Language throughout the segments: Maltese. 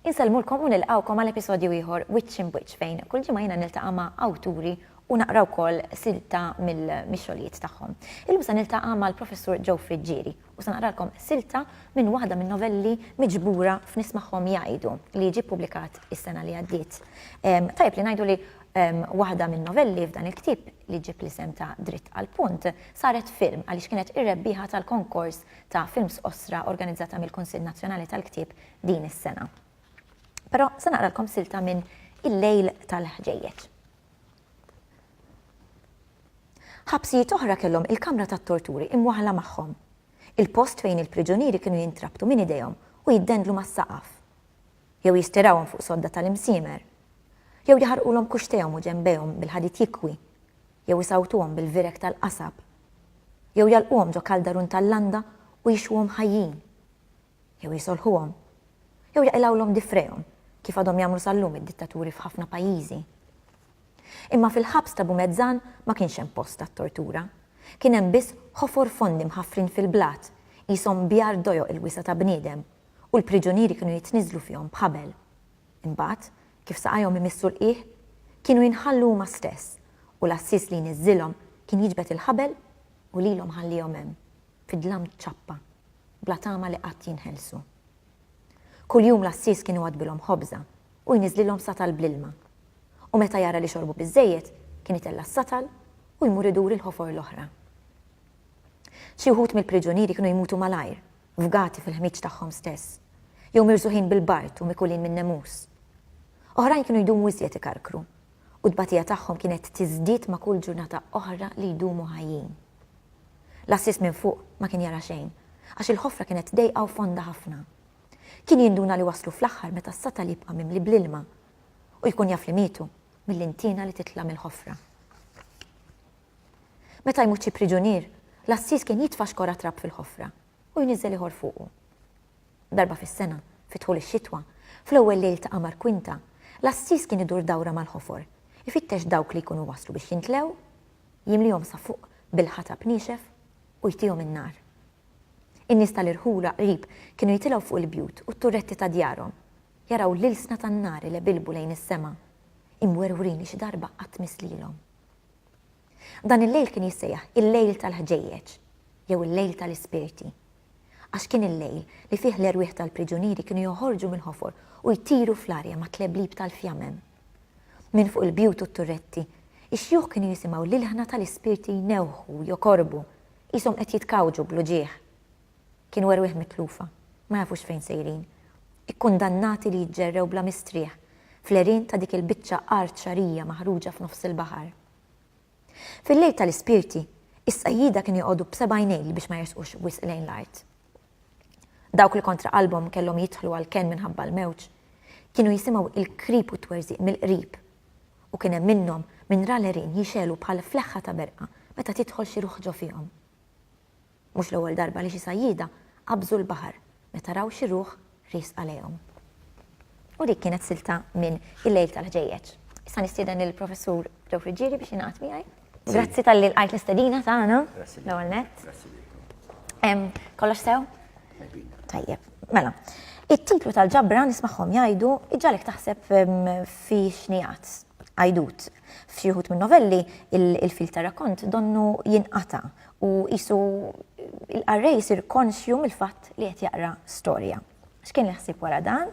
Insellmulkom u nilqawkom għal episodju ieħor Witch in Witch fejn kull ġimgħa jiena niltaqa' ma' awturi u naqra wkoll silta mill-xogħlijiet tagħhom. Illum se niltaqa' mal-Professur Joe Friggieri u se naqralkom silta minn waħda min-novelli miġbura f'Nismagħhom Jgħidu li ġie ppubblikat is-sena li għaddiet. Tajjeb li ngħidu li waħda min-novelli f'dan il-ktieb li ġġib l-isem ta' Dritt għall-Punt saret film għaliex kienet ir-rebbieħa tal-konkors ta' films qosra organizzata mill-Kunsill Nazzjonali tal-Ktieb din is-sena. Però se naqralkom silta minn Il-Lejl tal-Ħġejjeġ. Ħabsijiet oħra kellhom il-kamra tat-torturi imwaħħla magħhom, il-post fejn il-priġunieri kienu jintrabtu minn idejhom u jiddendlu mas-saqaf, jew jistirawhom fuq sodda tal-imsiemer, jew jaħarqulhom kuxtejhom u ġenbejhom bil-ħadid jikwi, jew isawwtuhom bil-vireg tal-qasab, jew jagħlquhom ġo kaldarun tal-landa u jixwuhom ħajjin, jew jisolħuhom, jew jaqilgħulhom difrejhom, kif għadhom jagħmlu sal-lum id-dittaturi f'ħafna pajjiżi. Imma fil-ħabs ta' Bumezzan ma kienx hemm post għat-tortura. Kien hemm biss ħofor fondi mħaffrin fil-blat, qishom bjar dojoq il-wisa' ta' bniedem, u l-priġunieri kienu jitniżżlu fihom b'ħabel. Imbagħad, kif saqajhom imissu l-qiegħ, kienu jinħallu huma stess, u l-għassies li jniżżilhom kien jiġbed il-ħabel u lilhom ħalliehom hemm. fid-dlam ċappa, bla tama li qatt jinħelsu. Kuljum l-għassies kien iwaddbilhom ħobża u jniżżlilhom satal bl-ilma, u meta jara li xorbu biżżejjed, kien itella' s-satal u jmur idur il-ħofor l-oħra. Xi wħud mill-priġunieri kienu jmutu malajr, fgati fil-ħmieġ tagħhom stess, jew mirżugħin bil-bard u mikulin min-nemus. Oħrajn kienu jdumu iżjed ikarkru u t-tbatija tagħhom kienet tiżdied ma' kull ġurnata oħra li jdumu ħajjin. L-għassies minn fuq ma kien jara xejn, għax il-ħofra kienet dejqa u fonda ħafna. Kien jinduna li waslu fl-aħħar meta s-satal jibqa' mimli bl-ilma, u jkun jaf li mietu mill-intiena li titla' mill-ħofra. Meta jmut xi priġunier, l-għassies kien jitfa' xkora trab fil-ħofra, u jniżżel ieħor fuqu. Darba fis-sena, fi dħul ix-xitwa, fl-ewwel lejl ta' qamar kwinta, l-għassies kien idur dawra mal-ħofor, ifittex dawk li jkunu waslu biex jintlew, jimlihom sa fuq bil-ħatab niexef u jtihom in-nar. In-nies tal-irħula qrib kienu jitilgħu fuq il-bjut u t-turretti ta' djarhom, jaraw l-ilsna tan-nar ilebilbu lejn is-sema, imwerwrin li xi darba qatt miss lilhom. Dan il-lejl kien jissejjaħ il-lejl tal-ħġejjeġ jew il-lejl tal-ispirti, għax kien il-lejl li fih l-erwieħ tal-priġunieri kienu joħorġu mill-ħofor u jtiru fl-arja mat-tleblib tal-fjamem. Minn fuq il-bjut u t-turretti, ix-xjuħ kienu jisimgħu l-ilħna tal-ispirti jnewħu u jokorbu, qishom qed jitkawġu bl-uġigħ. Kienu erwieħ mitlufa, ma jafux fejn sejrin, ikkundannati li jiġġerrew bla mistrieħ fl-għerien ta' dik il-biċċa art xagħrija maħruġa f'nofs il-baħar. Fil-lejl tal-ispirti, is-sajjieda kienu joqogħdu b'sebgħinejl biex ma jersqux wisq lejn l-art. Dawk li kontra qalbhom kellhom jidħlu għal kenn minħabba l-mewġ, kienu jisimgħu il-krip u t-twerżiq mill-qrib. U kien hemm minnhom min ra l-għerien jixegħlu bħal fleħħa ta' berqa meta tidħol xi ruħ ġo fihom. Mhux l-ewwel darba li xi sajjieda qabżu l-baħar meta raw xi ruħ riesqa lejhom. U dik kienet silta minn Il-Lejl tal-Ħġejjeġ. Issa nistieden lill-Professur Joe Friggieri biex jingħaqad miegħi. Grazzi talli lqajt l-istedina tagħna. Grazzi lilek. L-ewwel nett. Grazzi lilkom. Kollox sew? Tajbin. Tajjeb. Mela, it-titlu tal-ġabra nismagħhom jgħidu iġġalek taħseb fi xnijat, għajdut. F'xi wħud min-novelli il-fil tar-rakkont donnu jinqata' u qisu il-qarrej jsir konxju mill-fatt li qed jaqra storja. X'kien l-ħsieb wara dan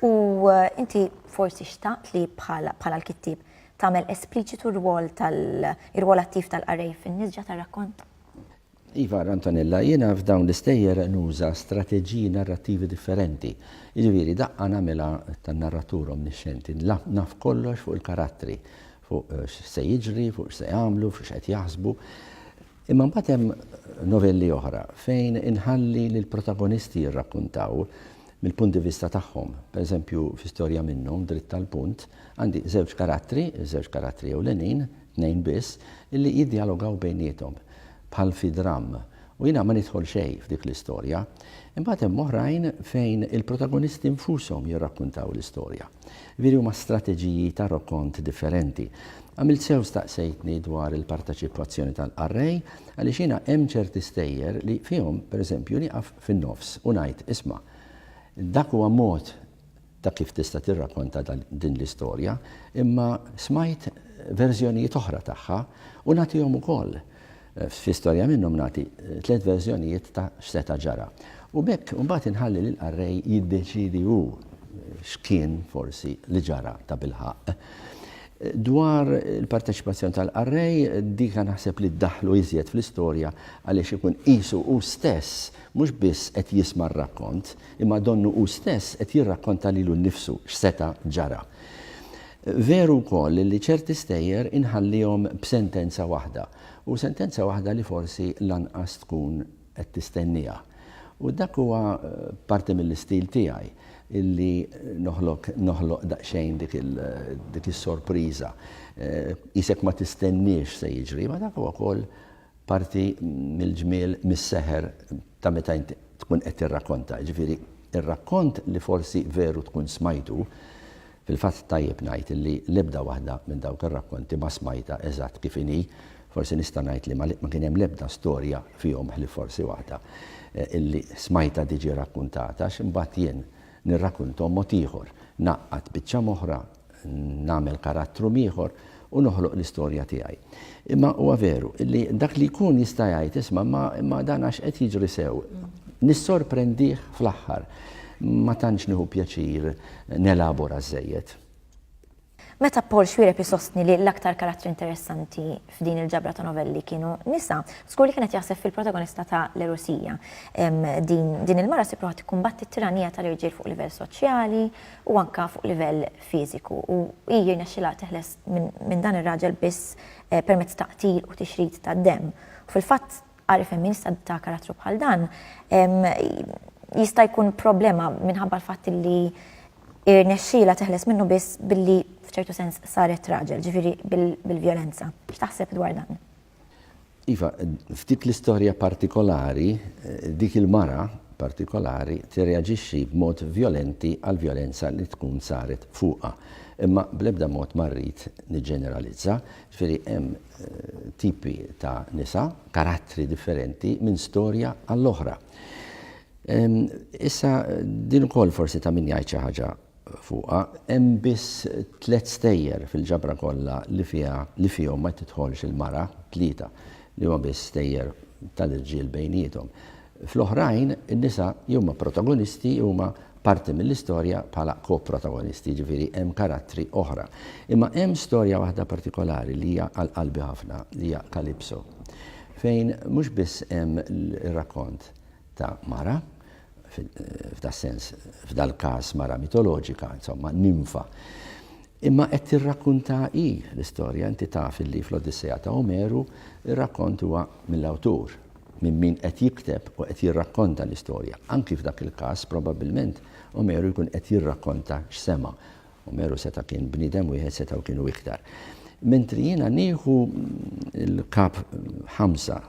u inti forsi xtaqt li bħala l-kittieb tagħmel espliċitu r-rwol tal-rwol attiv tal-qarrej fin-nisġa tar-rakkont? Iva, Antonella, jiena f'dawn l-istejjer nuża strateġiji narrattivi differenti. Jiġifieri daqqa nagħmilha tan-narratur omnixxenti, naf kollox fuq il-karattri, fuq x'se jiġri, fuq x'se jagħmlu, fuq x'qed jaħsbu. Imma mbagħad hemm novelli oħra fejn inħalli lill-protagonisti jirrakkuntaw mill-punt di vista tagħhom. Per eżempju, fi storja minnhom, dritt tal-punt, għandi żewġ karattri, żewġ karattri ewlenin, tnejn biss, illi jiddjalogaw bejniethom bħal fi dramm. U jiena ma nidħol xejn f'dik l-istorja. Imbagħad hemm oħrajn fejn il-protagonisti nfushom jirrakkuntaw l-istorja. Veri huma strateġiji ta' rokont differenti. Għamilt sew staqsejtni dwar il-parteċipazzjoni tal-qarrej għaliex jiena hemm ċerti stejjer li fihom, per eżempju, nieqaf fin-nofs u ngħid, isma', dak huwa mod ta' kif tista' tirrakonta din l-istorja, imma smajt verżjonijiet oħra tagħha u nagħtihom ukoll. Fi storja minnhom nagħti tliet verżjonijiet ta' x'seta' ġara. U b'hekk imbagħad inħalli lill-qarrej jiddeċiedi hu x'kien forsi li ġara tabilħaqq. Dwar il-parteċipazzjoni tal-qarrej, dika naħseb li ddaħħlu iżjed fl-istorja għaliex ikun qisu hu stess mhux biss qed jisma' r-rakkont, imma donnu hu stess qed jirrakkonta lilu nnifsu x'seta' ġara. Veru wkoll li ċerti stejjer inħallihom b'sentenza waħda, u sentenza waħda li forsi lanqas tkun qed tistennieha. U dak huwa parti mill-istil tiegħi, li noħlok noħloq daqsxejn dik il dik is-sorpriża. Qisek ma tistenniex x'se jiġri, imma dak huwa wkoll parti mill-ġmiel, mis-seħer ta' meta int tkun qed tirrakkonta. Jiġifieri r-rakkont li forsi veru tkun smajtu, Fil-fatt tajjeb ngħid li l-ebda waħda minn dawk ir-rakkonti ma smajtha eżatt kif inhi. Forsi nista' ngħid li ma kien hemm l-ebda storja fihom ħlief forsi waħda illi smajtha tiġi rakkuntata għax imbagħad jien nirrakkunthom mod ieħor, ngħaqqad biċċa m'oħra, nagħmel karattru m'ieħor u noħloq l-istorja tiegħi. Imma huwa veru li dak li jkun jista' jgħid isma' ma dan għax qed jiġri sew. Nissorprendih fl-aħħar. Ma tantx nieħu pjaċir nelabora żżejjed. Meta Paul Xwiereb isostni li l-aktar karattri interessanti f'din il-ġabra ta' novelli kienu nisa, żgur li kien qed jaħseb fil-protagonista ta' L-Erusija. Din il-mara ssib ruħha tikkumbatti t-tiranija tal-irġiel fuq livell soċjali u anke fuq livell fiżiku u hi jirnexxilha teħles minn dan ir-raġel biss permezz ta' qtil u tixrid tad-demm. U fil-fatt qari femminista ta' karattru bħal dan jista' jkun problema minħabba l-fatt li irnexxielha teħles minnu biss billi f'ċertu sens saret raġel, ġifieri bil-vjolenza. X'taħseb dwar dan? Iva, f'dik l-istorja partikolari, dik il-mara partikolari tirreaġixxi b'mod vjolenti għall-vjolenza li tkun saret fuqha. Imma bl-ebda mod ma rrid niġġeneralizza, ġifieri hemm tipi ta' nisa, karattri differenti minn storja għall-oħra. Issa din ukoll forsi ta' min jgħid xi ħaġa fuqha, hemm biss tliet stejjer fil-ġabra kollha li fiha li fihom ma tidħolx il-mara, tlieta, li huma biss stejjer tal-irġiel bejniethom. Fl-oħrajn, in-nisa jew huma protagonisti jew huma parti mill-istorja bħala ko-protagonisti, jiġifieri hemm karattri oħra. Imma hemm storja waħda partikolari li hija għal qalbi ħafna, li hija Calypso, fejn mhux biss hemm ir-rakkont, ta' mara, f'das-sens, f'dal-każ mara mitoloġika, insomma, nimfa. Imma qed tirrakkuntha hi l-istorja, inti taf illi fl-Odissea ta' Omeru r-rakkont huwa mill-awtur, minn min qed jikteb u qed jirrakkonta l-istorja. Anki f'dak il-każ, probabbilment, Omeru jkun qed jirrakkonta x'sema'. Omeru seta' kien bniedem wieħed setgħu kienu iktar. Mentri jiena nieħu l-kap ħamsa,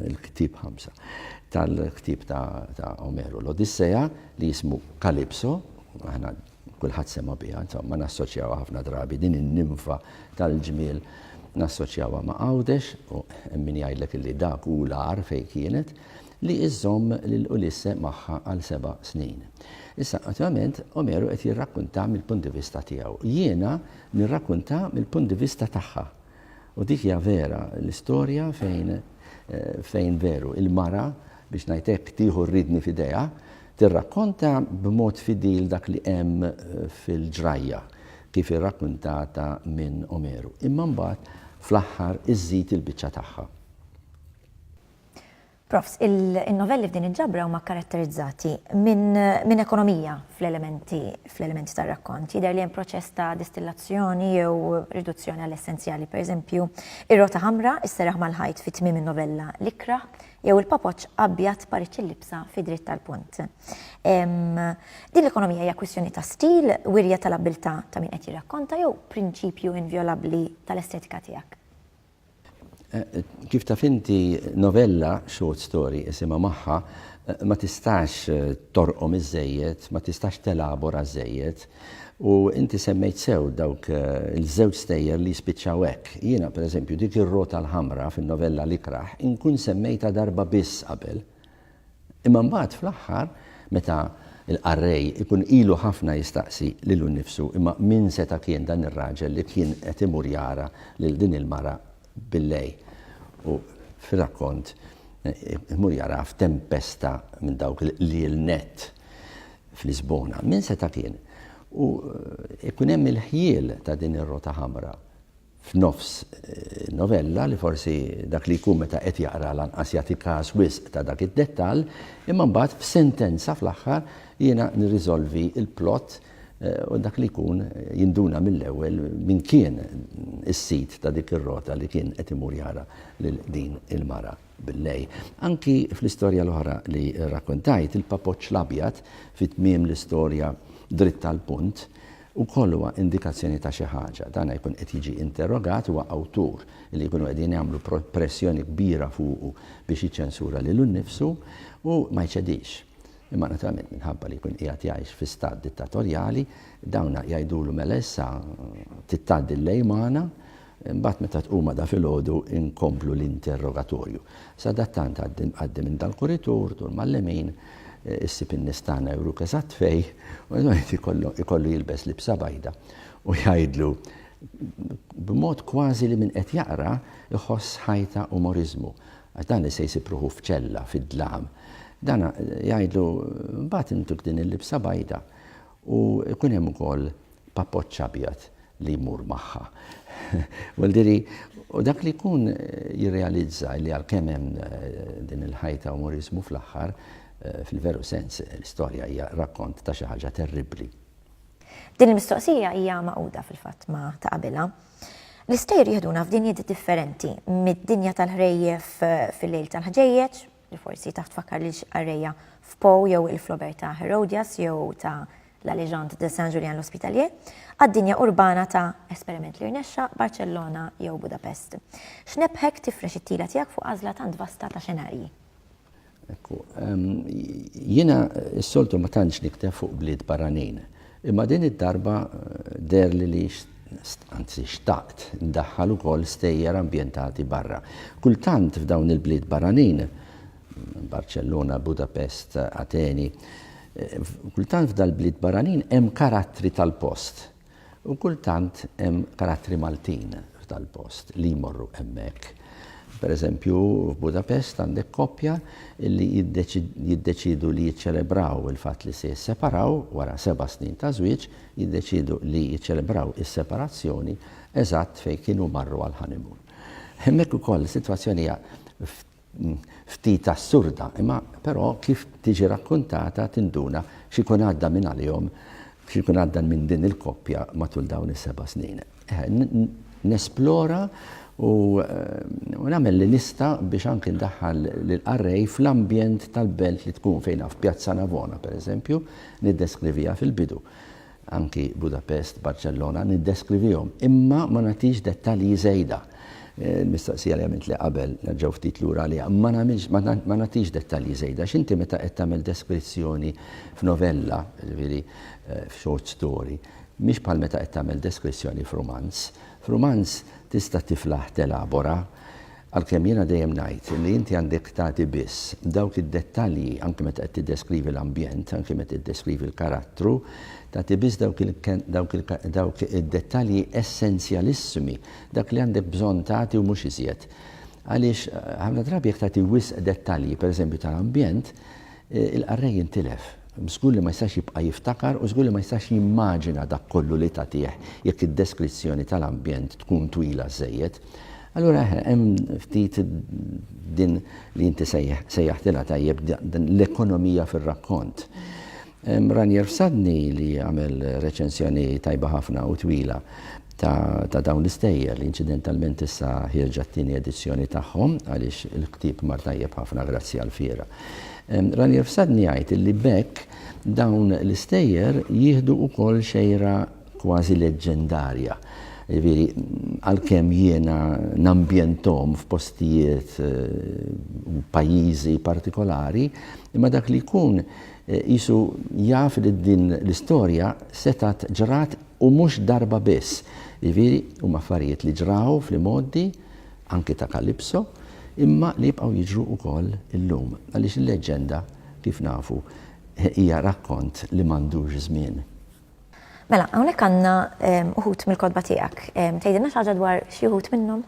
il-ktib ħamsa tal-ktib ta' Omeru, l-Odisseja li jismu Kalipso, aħna kulħadd sema biha, insomma nassoċjaw ħafna drabi din in-nimfa tal-ġmiel nassoċjawha ma' Għawdex u min jgħidlek li dak hu l-għar fejn kienet. li żżomm lil Ulisse magħha għal seba' snin. Issa, attualment, Omeru qed jirrakkunta mill-punt di vista tiegħu. Jiena nirrakkunta mill-punt di vista tagħha. U dik hija vera l-istorja fejn fejn veru il-mara, biex ngħid hekk, tieħu r-riedni f'idejha, tirrakkonta b'mod fidil dak li hemm fil-ġrajja, kif irrakkuntata minn Omeru. Imma mbagħad fl-aħħar iżżid il-biċċa tagħha. Profs, in-novelli f'din il-ġabra huma kkaratterizzati minn ekonomija fl-elementi fl-elementi tar-rakkont. Jidher li hemm proċess ta' distillazzjoni jew riduzzjoni għall-essenzjali, pereżempju, ir-rota ħamra isseraħ mal-ħajt fi tmiem in-novella L-Ikra jew il-papoċċ abjad pariċċ il-libsa fi dritt tal-punt. Din l-ekonomija hija kwistjoni ta' stil, wirja tal-abbiltà ta' min qed jirrakkonta jew prinċipju invjolabbli tal-estetika tiegħek. Kif taf inti, novella, short story isimha magħha, ma tistax torqom iżżejjed, ma tistax telabora żżejjed. U inti semmejt sew dawk il-żewġ stejjer li jispiċċaw hekk. Jiena, pereżempju, dik ir-rota l-ħamra fin-novella L-ikrah inkun semmejtha darba biss qabel. Imma mbagħad fl-aħħar, meta l-qarrej ikun ilu ħafna jistaqsi lilu nnifsu, imma min seta' kien dan ir-raġel li kien qed imur jara lil din il-mara billejl? U fir-rakkont imur jaraha f'tempesta minn dawk l-iel nett f'Lisbona. Min seta' kien? U ikun hemm il-ħjiel ta' din ir-rota ħamra. f'nofs novella li forsi dak li jkun meta qed jaqra lanqas jagħti kas wisq ta' dak id-dettall, imma mbagħad f'sentenza fl-aħħar jiena nirriżolvi l-plot u dak li jkun jinduna mill-ewwel min kien is-sid ta' dik ir-rota li kien qed imur jara lil din il-mara. Billej. Anki fl-istorja l-oħra li rrakkuntajt, il-papoċċ l-abjad fi tmiem l-istorja dritt għall-punt, ukoll huwa indikazzjoni ta' xi ħaġa. Dan jkun qed jiġi interrogat, huwa awtur li jkunu qegħdin jagħmlu pressjoni kbira fuqu biex jiċċensura lilu nnifsu u ma jċedix. Imma naturalment minħabba li jkun qiegħed jgħix fi stat dittatorjali, dawn jgħidulu mela issa trid tgħaddi l-lejl magħna, Imbagħad meta tqum għada filgħodu inkomplu l-interrogatorju. Sadattant għaddi għaddi minn dal-kuritur, dur mal-lemin, issib in-nies tagħna juru keżatt fej, u l-wieħed ikollu ikollu jilbes libsa bajda u jgħidlu b'mod kważi li min qed jaqra jħoss ħajta umoriżmu għax dan li se jsib ruħu f'ċella fid-dlam. Dana jgħidlu mbagħad intuk din il-libsa bajda U jkun hemm ukoll papoċċ abjad li jmur magħha. Well, diri, u dak li jkun jirrealizza li għalkemm hemm din il-ħajta umoriżmu fl-aħħar, fil-veru sens, l-istorja hija rakkont ta' xi ħaġa terribbli. Din il-mistoqsija hija magħquda fil-fatt ma' ta' qabilha. L-istejjer jiħduna f'dinjiet differenti, mid-dinja tal-ħrejjef fil-lejl tal-ħġejjeġ, li forsi taf tfakkar li xqarreja f'Poe jew il-flober ta' Herodias jew ta' La Legende de Saint Julien l'Hospitalier, għad-dinja urbana ta' esperiment li rnexxa Barcellona jew Budapest. X'nebħek tifrex it-tila tiegħek fuq għażla tant vasta ta' xenarji? Ekku, ehm, jiena s-soltu ma tantx nikteb fuq bliet barranin. Imma din id-darba deherli li anzi xtaqt ndaħħal ukoll stejjer ambjentati barra. Kultant f'dawn il-bliet barranin, Barċellona, Budapest, Ateni, kultant f'dal-bliet barranin hemm karattri tal-post u kultant hemm karattri Maltin f'dal-post li jmorru hemmhekk. Pereżempju, f'Budapest għandek koppja li jiddeċiedu li jiċċelebraw il-fatt li se jisseparaw wara seba' snin ta' żwieġ, jiddeċiedu li jiċċelebraw is-separazzjoni eżatt fejn kienu marru għall-honeymoon. Hemmhekk ukoll is-sitwazzjoni hija ftit assurda, imma però kif tiġi rakkuntata tinduna x'ikun għadda minn għalihom, x'ikun għadda minn din il-koppja matul dawn is-seba' snin. nesplora u nagħmel li nista' biex anke ndaħħal lill-qarrej fl-ambjent tal-belt li tkun fejn naf Pjazza Navona pereżempju niddeskrivija fil-bidu. Anki Budapest, Barċellona niddeskrivihom, imma ma nagħtix dettalji żejda. Eh, mistaqsija li għamilt li qabel, nerġaw ftit lura li ma nagħmilx ma nagħtix dettalji żejda, x'inti meta qed tagħmel deskrizzjoni f'novella, ġifieri eh, f'short story, Mhix bħal meta qed tagħmel deskrizzjoni f'rumanz. F'rumanz tista' tiflaħ telabora. Għalkemm jiena dejjem ngħid li inti għandek tagħti biss dawk id-dettalji anki meta qed tiddeskrivi l-ambjent, anki meta tiddeskrivi l-karattru, tagħti biss dawk id-dettalji essenzjalissimi, dak li għandek bżonn tagħti u mhux iżjed. Għaliex ħafna drabi jekk tagħti wisq dettalji, pereżempju tal-ambjent, Il-qarrej intilef. Żgur li ma jistax jibqa' jiftakar u żgur li ma jistax jimmaġina dak kollu li tagħtih jekk id-deskrizzjoni tal-ambjent tkun twila żżejjed. Allura eħe, hemm ftit din li inti sejjaħtilha tajjeb din l-ekonomija fir-rakkont. Ranier Sadni li għamel reċensjoni tajba ħafna u twila ta' dawn l-istejjer li inċidentalment issa ħierġa t-tieni edizzjoni tagħhom għaliex il-ktieb mar tajjeb ħafna grazzi għall-fiera. Ranier Fsadni jgħid illi b'hekk dawn l-istejjer jieħdu wkoll xejra kważi leġġendarja. Jiġifieri għalkemm jiena nambjenthom f'postijiet u pajjiżi partikolari, imma dak li jkun qisu jaf li din l-istorja setgħet ġrat U mhux darba biss. Jiġifieri, huma affarijiet li ġraw fl-imgħoddi, anki ta' Kalipso, imma li jibqgħu jiġru wkoll illum. Għaliex il-leġġenda, kif nafu, hija rakkont li m'għandux żmien. Mela, hawnhekk għandna uħud mill-kotba tiegħek. Tgħidilna xi ħaġa dwar xi wħud minnhom?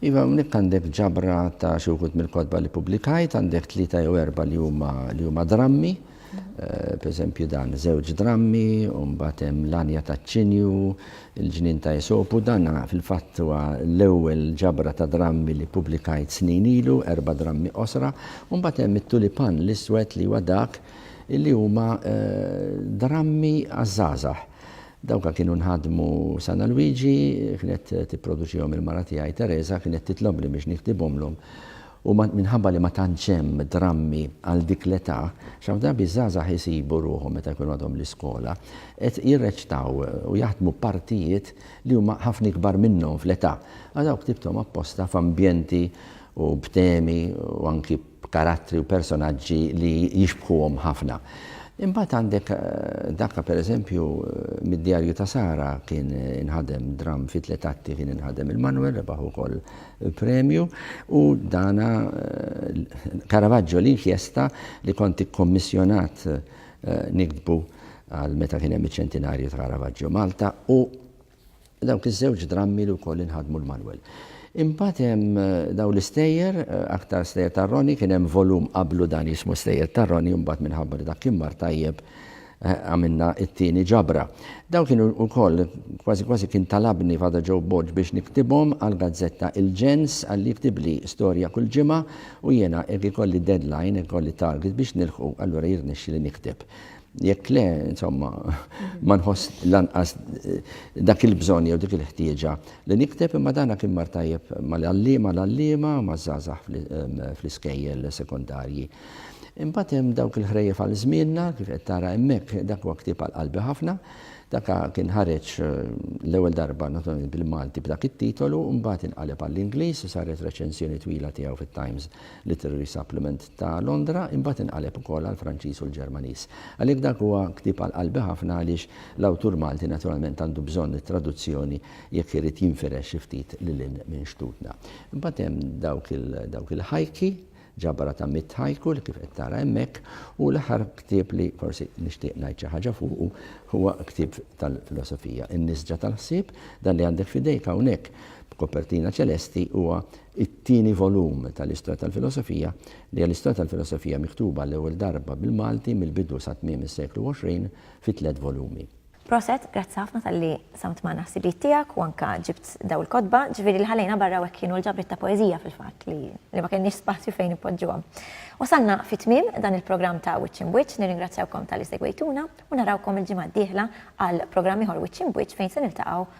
Iva, hawnhekk għandek ġabra ta' xi wħud mill-kotba li pubblikajt, għandek tlieta jew erba' li huma li huma drammi, eh, pereżempju dan żewġ drammi, u mbagħad hemm l-anja taċ-ċinju, il-ġnien ta' Esopu, dan fil-fatt huwa l-ewwel ġabra ta' drammi li pubblikajt snin ilu, erba' drammi qosra, u mbagħad hemm it-tulipan l-iswed li huwa dak li huma eh, drammi għaż-żgħażagħ. Dawk kienu nħadmu Sana Luigi, kienet tipproduċihom il-mara tiegħi Teresa, kienet titlobni biex niktibhomlhom u minħabba li ma tantx hemm drammi għal dik l-età, x'hawn drabi ż-żgħażagħ isibu ruħhom meta jkunu għadhom l-iskola qed jirreċtaw u jaħdmu partijiet li huma ħafna ikbar minnhom fl-età. Għal dawk ktibthom apposta f'ambjenti u b'temi u anki b'karattri u personaġġi li jixbħuhom ħafna. Imbagħad għandek dak pereżempju mid-Djarju ta' Sara kien inħadem dramm fi tliet atti kien inħadem il-Manwel rebaħ ukoll premju u dana Caravaggio l-inkjesta li kont ikkommissjonat niktbu għal meta kien hemm iċ-ċentinarju ta' Caravaggio Malta u Dawk iż-żewġ drammi li wkoll inħadmu l-manwel. Imbagħad hemm dawn l-istejjer, aktar stejjer tar-Roni, kien hemm volum qablu dan jismu Stejjer tar-Roni u mbagħad minħabba li dak kien mar tajjeb għamilna t-tieni ġabra. Dawn kienu wkoll kważi kważi kien talabni Father Joe Borg biex niktibhom għall-gazzetta Il-Ġens għalli jiktibli storja kull ġimgħa u jiena hekk ikolli deadline, ikolli target biex nilħqu allura jirnexxili nikteb. Jekk le, insomma, ma nħoss lanqas dak il-bżonn jew dik il-ħtieġa li nikteb imma dana kien mar tajjeb mal-għalliema, l-għalliema maż-żgħażagħ fl-iskejjel sekondarji. Imbagħad hemm dawk il-ħrejjef għal żmienna, kif qed tara hemmhekk, dak huwa ktieb għal qalbi ħafna. Dak kien ħareġ l-ewwel darba naturalment bil-Malti b'dak it-titolu, imbagħad inqaleb għall-Ingliż u saret reċensjoni twila tiegħu fit-Times Literary Supplement ta' Londra, imbagħad inqaleb ukoll għall-Franċiż u l-Ġermaniż. Għalhekk dak huwa ktieb għal qalbi ħafna għaliex l-awtur Malti naturalment għandu bżonn it-traduzzjoni jekk irid jinfirex xi ftit lil hinn minn xtutna. Imbagħad hemm dawk il dawk il-ħajki, ġabra ta' mitt ħajku li kif qed tara hemmhekk, u l-aħħar ktieb li forsi nixtieq ngħid xi ħaġa fuqu huwa ktieb tal-filosofija, In-Nisġa tal-Ħsieb, dan li għandek f'idejk hawnhekk b'kopertina ċelesti huwa it-tieni volum tal-Istoria tal-Filosofia, li hija l-Istoria tal-Filosofia miktuba għall-ewwel darba bil-Malti mill-bidu sa tmiem is-seklu 20 fi tliet volumi. Proset, grazzi ħafna talli qsamt magħna ħsibijiet tiegħek u anke ġibt dawn il-kotba, ġifieri li ħallejna barra hawnhekk kienu l-ġabriet ta' poeżija fil-fatt li li ma kellniex spazju fejn inpoġġuhom. Wasalna fi tmiem dan il-programm ta' Wiċċ Imbwiċċ, nirringrazzjawkom talli segwejtuna u narawkom il-ġimgħa d-dieħla għal programm ieħor Wiċċ Imbwiċċ fejn se niltaqgħu